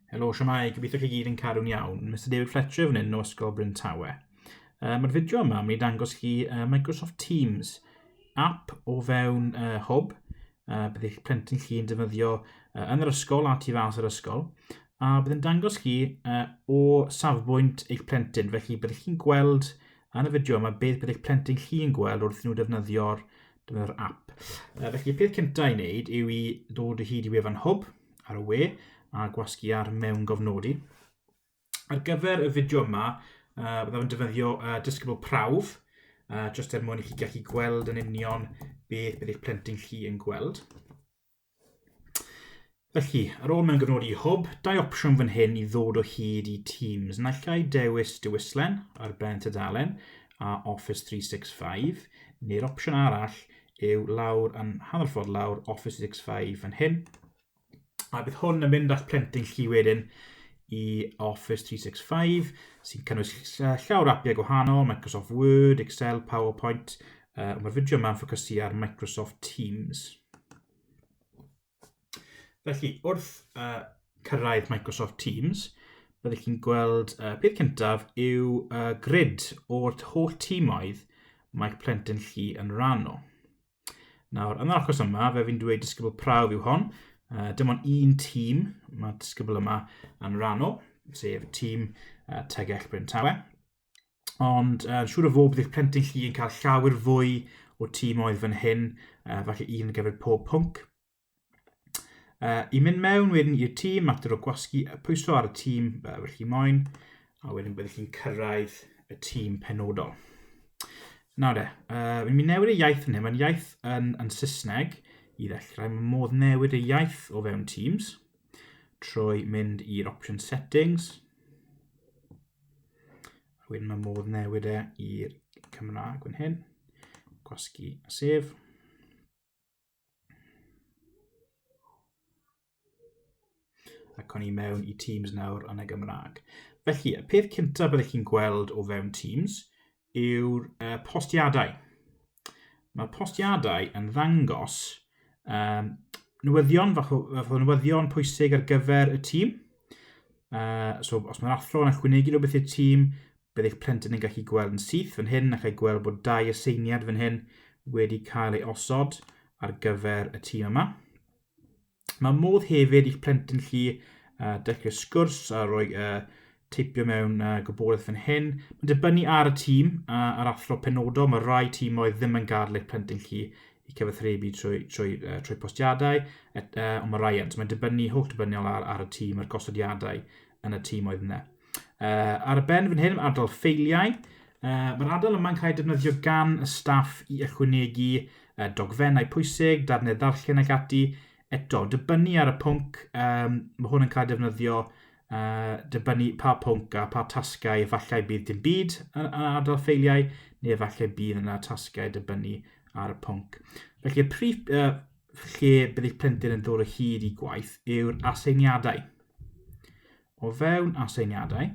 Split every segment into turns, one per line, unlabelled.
Helo, siamau, gobeithio chi gyd yn cadw'n iawn. Mr David Fletcher fan hyn o Ysgol Bryn Tawe. Uh, Mae'r fideo yma, mi dangos chi uh, Microsoft Teams app o fewn uh, hwb, uh, bydd eich plentyn chi yn defnyddio uh, yn yr ysgol a tu fas yr ysgol, a bydd yn dangos chi uh, o safbwynt eich plentyn, felly byddwch chi'n gweld yn y fideo yma beth bydd eich plentyn chi'n gweld wrth nhw defnyddio'r Dyma'r app. Uh, felly, peth cyntaf i wneud yw i dod o hyd i wefan hwb ar y we a gwasgu ar mewn gofnodi. Ar gyfer y fideo yma, uh, byddaf yn defnyddio uh, disgybl prawf, uh, jyst er mwyn i chi gallu gweld yn union beth bydd eich plentyn chi yn gweld. Felly, ar ôl mewn gyfnod i hwb, dau opsiwn fan hyn i ddod o hyd i Teams. Naill ai dewis dewislen ar ben tudalen a Office 365, neu'r opsiwn arall yw lawr yn hanner ffordd lawr Office 365 fan hyn. A bydd hwn yn mynd â'ch plentyn chi wedyn i Office 365 sy'n cynnwys llawr apiau gwahanol, Microsoft Word, Excel, PowerPoint, uh, mae'r fideo yma'n ffocysu ar Microsoft Teams. Felly, wrth uh, cyrraedd Microsoft Teams, byddwch chi'n gweld uh, peth cyntaf yw uh, grid o'r holl tîmoedd mae'r plentyn chi yn rhan o. Nawr, yn yr achos yma, fe fi'n dweud disgybl prawf yw hon. Uh, dim ond un tîm mae disgybl yma yn rhan o, sef tîm uh, Tegell Bryn Tawe. ond uh, siŵr o fod bydd eich plentyn chi yn cael llawer fwy o tîm oedd fan hyn, uh, falle un gyfer pob pwnc. Uh, I mynd mewn wedyn i'r tîm, mater o gwasgu y pwyso ar y tîm uh, fel chi moyn, a wedyn byddwch chi'n cyrraedd y tîm penodol. Nawr de, uh, mi newid y iaith yn hyn, mae'n iaith yn, yn Saesneg i ddechrau, mae modd newid y iaith o fewn Teams trwy mynd i'r option settings, A wedyn mae modd newid e i'r Cymraeg fan hyn. Gwasgu a sef. ac o'n i mewn i Teams nawr yn y Gymraeg. Felly, y peth cyntaf byddwch chi'n gweld o fewn Teams yw'r uh, postiadau. Mae'r postiadau yn ddangos um, newyddion, fath o, fath o newyddion pwysig ar gyfer y tîm. Uh, so, os mae'r athro yn ychwanegu rhywbeth i'r tîm, bydd eich plentyn yn gallu gweld yn syth fan hyn a chael gweld bod dau aseiniad fan hyn wedi cael ei osod ar gyfer y tîm yma. Mae modd hefyd i'ch plentyn chi uh, dechrau sgwrs a rhoi uh, teipio mewn uh, gwybodaeth fan hyn. Mae'n dibynnu ar y tîm a uh, ar athro penodol. Mae rhai tîmoedd ddim yn gadl eich plentyn chi i cyfathrebu trwy, trwy, uh, trwy postiadau, et, uh, ond mae rhai yn. So mae'n dibynnu holl dibynniol ar, ar y tîm a'r gosodiadau yn y tîmoedd yna. Uh, ar y ben fan hyn, adael ffeiliau. Uh, Mae'r adael yma'n cael ei defnyddio gan y staff i ychwanegu uh, dogfennau pwysig, darnau ddarllen ac ati. Eto, dibynnu ar y pwnc, um, mae hwn yn cael ei defnyddio uh, dibynnu pa pwnc a pa tasgau, efallai bydd dim byd yn, yn adael ffeiliau, neu efallai bydd yna tasgau dibynnu ar y pwnc. Felly, y prif, uh, lle bydd eich plentyn yn dod o hyd i gwaith yw'r aseiniadau. O fewn aseiniadau,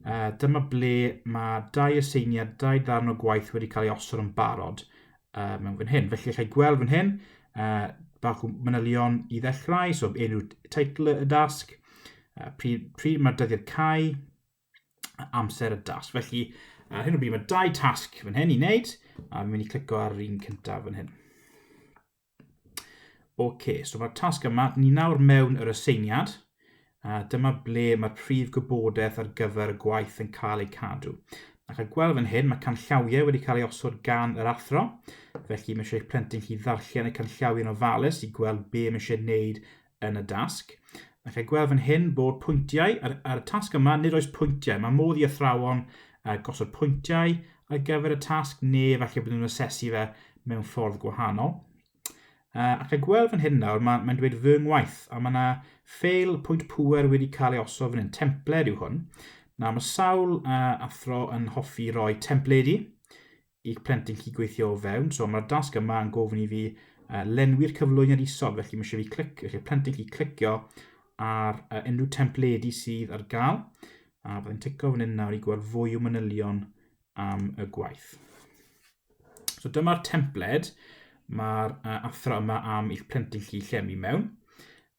uh, dyma ble mae dau aseiniad, dau ddarn o gwaith wedi cael ei osod yn barod uh, mewn fan hyn. Felly, allai gweld fan hyn, uh, bach o manylion i ddechrau, so enw teitl y dasg, uh, pryd, pryd mae'r dyddiad cae, amser y dasg. Felly, ar hyn o bryd mae dau tasg fan hyn i wneud, a fi'n mynd i clicio ar yr un cyntaf fan hyn. Ok, so mae'r tasg yma, ni nawr mewn yr aseiniad, a dyma ble mae'r prif gwybodaeth ar gyfer y gwaith yn cael ei cadw. Ac a gweld fan hyn, mae canllawiau wedi cael ei osod gan yr athro, felly mae eisiau eich plentyn chi ddarllen y canllawiau yn ofalus i gweld be mae eisiau gwneud yn y dasg. Mae eich gweld fan hyn bod pwyntiau, ar, ar y tasg yma nid oes pwyntiau, mae modd i athrawon uh, gosod pwyntiau ar gyfer y tasg neu efallai bod nhw'n asesu fe mewn ffordd gwahanol. Uh, ac a gweld fan hyn nawr, mae'n mae dweud fy ngwaith, a mae yna ffeil pwynt pwer wedi cael ei osod fan hyn, templed yw hwn. Na, mae sawl uh, athro yn hoffi roi templedi i'ch plentyn chi gweithio o fewn. So mae'r dasg yma yn gofyn i fi uh, lenwi'r cyflwyniad isod, felly mae eisiau fi clic, felly plentyn chi clicio ar uh, unrhyw templedi sydd ar gael. A byddai'n tico fan hyn nawr i gweld fwy o manylion am y gwaith. So dyma'r templed mae'r uh, athro yma am i'ch plentyn chi llenwi mewn.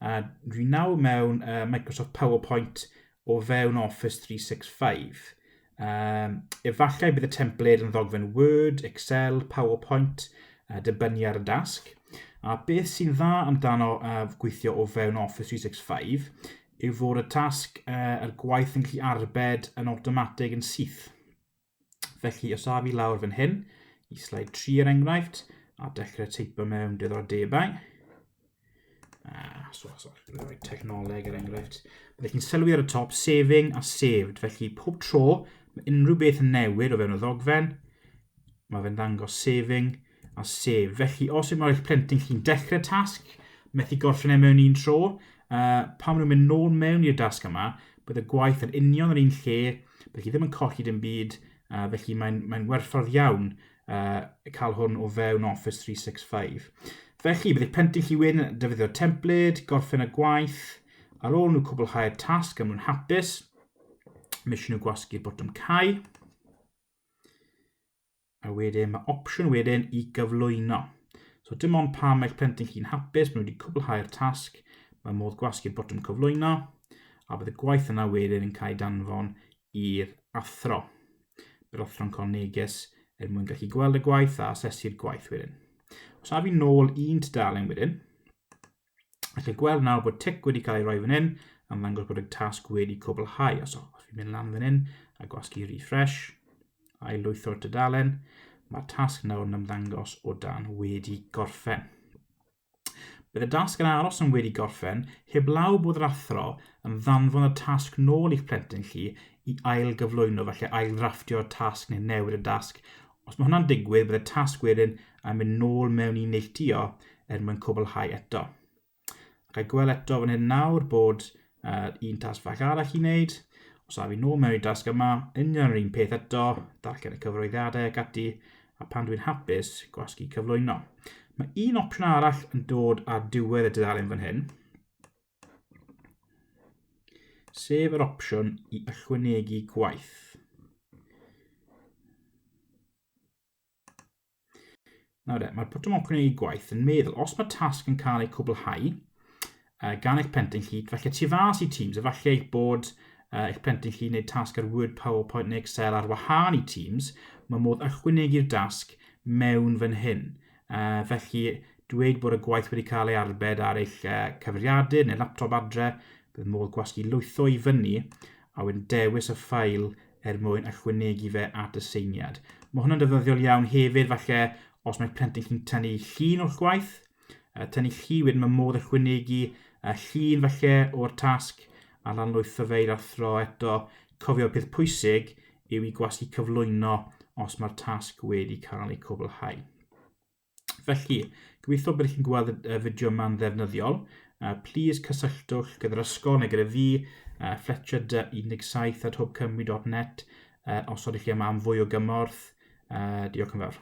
A dwi nawr mewn uh, Microsoft PowerPoint o fewn Office 365. Um, efallai bydd y templed yn ddogfen Word, Excel, PowerPoint, a dibynnu ar y dasg. A beth sy'n dda amdano uh, gweithio o fewn Office 365 yw fod y tasg uh, a'r gwaith yn gallu arbed yn awtomatig yn syth. Felly, os a fi lawr fan hyn, i slide 3 er enghraifft, a dechrau teipo mewn debau, Uh, so, so, rhoi technoleg er enghraifft. Byddwch chi'n sylwi ar y top, saving a saved. Felly, pob tro, mae unrhyw beth yn newid o fewn y ddogfen, mae fe'n dangos saving a save. Felly, os yw'n eich plentyn chi'n dechrau tasg, methu gorffen e mewn un tro, uh, pan maen nhw'n mynd nôl mewn i'r dasg yma, bydd y gwaith yn union yr un lle, bydd chi ddim yn colli dim byd, uh, felly mae'n mae werthfawr iawn uh, cael hwn o fewn Office 365. Felly, bydd eich pentu chi wedyn yn defnyddio'r templed, gorffen y gwaith, ar ôl nhw cwblhau'r tasg am nhw'n hapus, mae eisiau nhw gwasgu'r botwm cael, a wedyn mae opsiwn wedyn i gyflwyno. So dim ond pa mae'ch plentyn chi'n hapus, maen nhw wedi cwblhau'r tasg, mae modd gwasgu'r botwm cyflwyno, a bydd y gwaith yna wedyn yn cael ei danfon i'r athro, yr athro'n cael neges er mwyn gallu gweld y gwaith a asesu'r gwaith wedyn. Os na fi'n nôl un tudalen wedyn, ac yn gweld nawr bod tic wedi cael ei roi fan hyn, am ddangos bod y tasg wedi cwblhau. Os, os fi'n mynd lan fan hyn a gwasgu refresh, a'i lwytho'r tudalen, mae'r tasg nawr yn ymddangos o dan wedi gorffen. Bydd y dasg yn aros yn wedi gorffen heblaw bod yr athro yn ddanfon y tasg nôl i'ch plentyn chi i ail-gyflwyno felly ail-ddrafftio'r tasg neu newid y dasg. Os mae hwnna'n digwydd, bydd y tasg wedyn yn mynd nôl mewn i neilltuo er mwyn cwblhau eto. Ac I gweld eto fan hyn nawr bod uh, un tasg fach arall i wneud. Os a fi nôl mewn i'r dasg yma, union yr un peth eto, darllen y cyfroeddiadau ac ati, a pan dwi'n hapus, gwasgu cyflwyno. Mae un opsiwn arall yn dod ar diwedd y dudalen fan hyn, sef yr opsiwn i ychwanegu gwaith. Nawr de, mae'r botwm ochr yn ei gwaith yn meddwl, os mae tasg yn cael ei cwblhau uh, gan eich plentyn chi, felly tu fas i Teams, efallai eich bod uh, eich plentyn chi wneud tasg ar Word, PowerPoint neu Excel ar wahân i Teams, mae modd ychwanegu'r dasg mewn fan hyn. Uh, felly, dweud bod y gwaith wedi cael ei arbed ar eich uh, cyfriadur neu laptop adre, bydd modd gwasgu lwytho i fyny a wedyn dewis y ffail er mwyn ychwanegu fe at y seiniad. Mae hwnna'n defnyddiol iawn hefyd falle os mae plentyn chi'n tynnu llun o'ch gwaith, uh, tynnu llu wedyn mae modd ychwanegu uh, llun falle o'r tasg a lanlwytho fe i'r athro eto. Cofio peth pwysig yw i gwasgu cyflwyno os mae'r tasg wedi cael ei cwblhau. Felly, gobeithio bod chi'n gweld y fideo yma'n ddefnyddiol. Uh, please cysylltwch gyda'r ysgol neu gyda fi, uh, Fletcher 17 at hopecymru.net, uh, os ydych chi yma am fwy o gymorth. Uh, diolch yn fawr.